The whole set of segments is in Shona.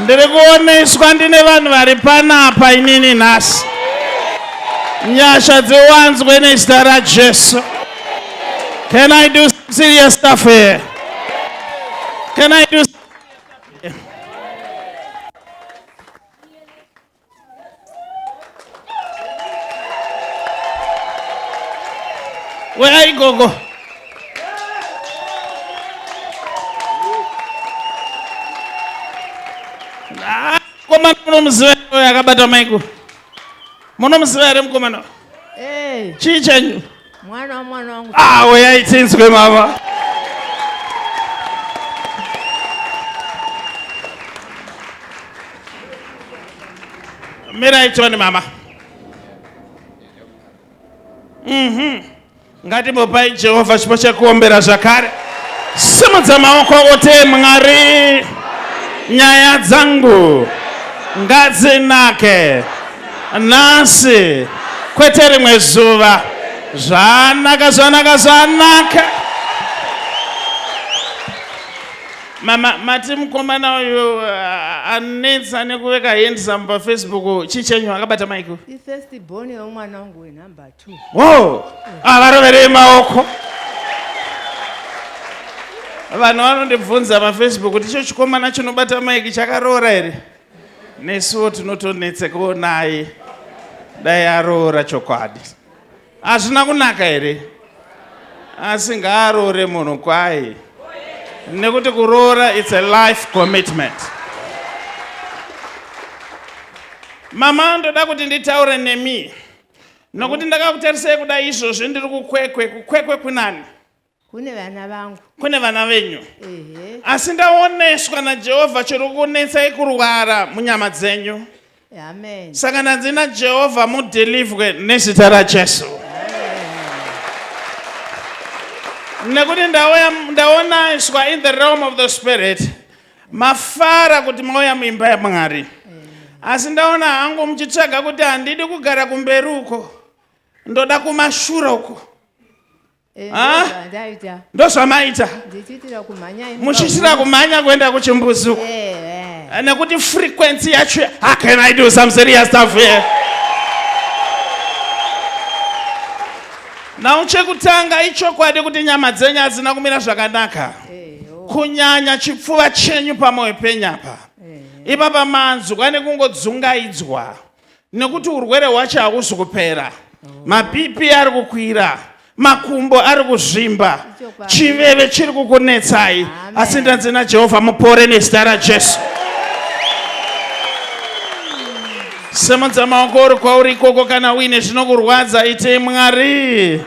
Ndiri kuoneswa ndine vanhu vari panapa inini nhasi. Nyasha dziwanzwe nezita raJesu. Can I do some serious stuff here? Can I do Where are you, Gogo? Ah, mukomana munomuziva akabata maiko munomuziva here mukomana chii chanyu mwana wamwana wangu ah oyai tinzwe mama mirai tione mama mhm ngatimbopai jehovha chipo chekuombera zvakare simudza maoko kuti mwari nyaya dzangu ngadzinake nhasi kwete rimwe zuva zvanaka zvanaka zvanaka mama mati mukomana uyu uh, anetsa nekuveka handsome pafacebook chichenyu akabata maiko ifirst born yomwana wangu wenumber two wo avaroverei ah, maoko vanhu vanondibvunza pafacebook kuti icho chikomana chinobata maiki chakaroora here Nesuwo tinotonetsekawo naye dai aroora chokwadi. Hazvina kunaka here? Asi ngaaroore munhu kwaye nekuti kuroora it's a life commitment. Mama ndoda kuti nditaure nemi nokuti ndakakutarisai kuda izvozvi ndiri kukwekwe. Kukwekwe kunani? kune vana vangu kune vana venyu ehe asi ndaoneswa najehovha chiri kunetsai kurwara munyama dzenyu amen saka ndanzi najehovha mudhilivhwe nezita rajesu nekuti ndauya ndaonaiswa in the realm of the spirit mafara kuti mauya muimba yamwari asi ndaona hangu muchitsvaga kuti handidi kugara kumberi uko ndoda kumashure uko Eh, ah! ndozvamaita muchiitira kumhanya kuenda kuchimbuzuko eh, eh. nekuti frequency yacho how can i do some serious stuff here now chekutanga ichokwadi kuti nyama dzenyu hadzina kumira zvakanaka oh. kunyanya chipfuva chenyu pamwoyo penyapa ipapa manzwa nekungodzungaidzwa nekuti urwere hwacho hausi kupera oh. mapipi ari kukwira makumbo ari kuzvimba chiveve chiri kukunetsai asi ndanzi najehovha mupore nezita rajesu semudza maoko uri kwauri ikoko kana uine zvinokurwadza iti mwari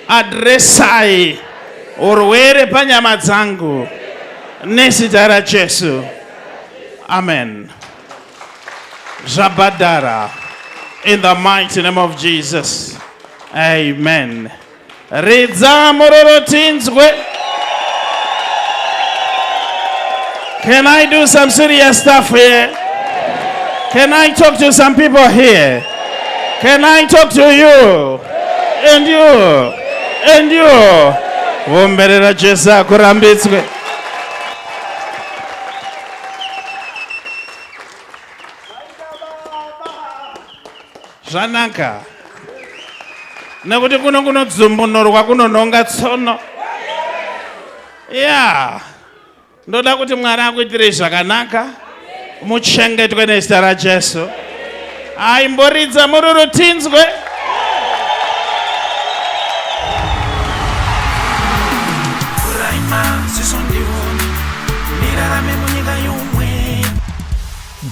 adresai urwere panyama dzangu nezita rajesu amen Zvabhadhara. In the mighty name of Jesus. Amen. Ridza mororo tinzwe. Can I do some serious stuff here? Can I talk to some people here? Can I talk to you? And you? And you? Vomberera Jesu akurambitswe. zvanaka nekuti kuno kunodzumbunorwa kunonhonga tsono ya ndoda kuti mwari akuitirei zvakanaka muchengetwe nezita rajesu Aimboridza mururu tinzwe.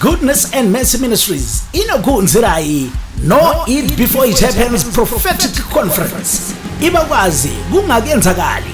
Goodness and Mercy Ministries inokuunzirai No Eat Before It Happens Prophetic Conference. Ibakwazi kungakenzakali